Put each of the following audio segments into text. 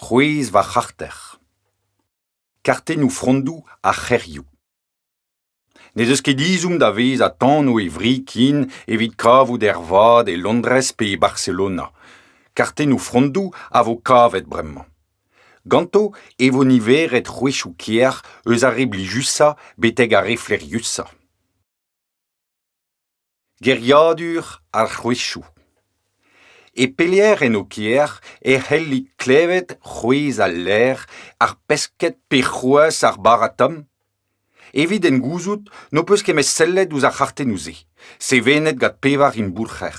C'hwezh va c'harter. Kartennoù frondoù ar c'hêrioù. N'ez eus ket ezhomm da vezañ tanv e wri-kin evit kavout ervat e Londrez pe e Barcelona. Kartennoù frondoù a vo kavet bremañ. Ganto e vo niveret c'hwezhoù kêr eus ar re blijusañ betek ar re flaeriusañ. Geriadur ar c'hwezhoù. E pelec'h en ho kêr e c'hellit klevet c'hwezh al ler, ar pesked pe c'hoazh ar bara-tomm? Evit en gouzout n'ho peus ket met sellet ouzh ar c'hartennoù-se, sevenet gant pevar imboulc'her.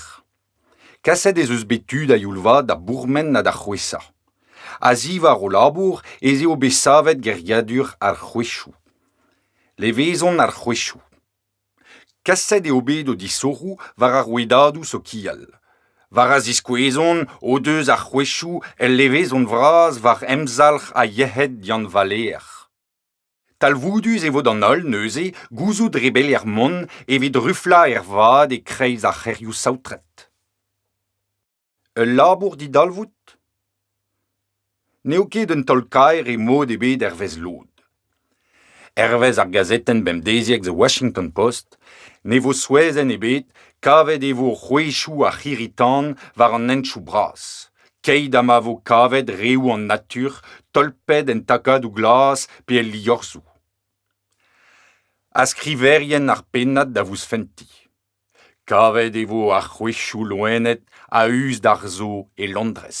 Kaset ez eus bet tud a-youl-vat da bourmen ha da c'hwezhañ. A-ziwar o labour ez eo bet savet geriadur ar c'hwezhoù. Levezon ar c'hwezhoù. Kaset eo bet o disoc'hoù war ar rouedadoù sokial. War a ziskouezont o deus ar c'hwezhoù ul levezon vras war emzalc'h ha yec'hed Yann Valêr. Talvoudus e vo d'an holl, neuze, gouzout rebeliañ mont evit ruflañ ervat e-kreiz ar c'hêrioù saotret. Ul labour didalvoud? N'eo ket un taol-kaer e mod ebet hervez lod. Hervez ar gazetenn bemdeziek The Washington Post ne vo souezhenn ebet kavet e vo c'hwezhioù ar c'hirri-tan war an hentchoù bras, keit ha ma vo kavet reoù an natur tolpet en takadoù glas pe el liorzhoù. Ha skriverien ar pennad da vousfentiñ. Kavet e vo ar c'hwezhioù loened a-us d'ar zo e Londrez.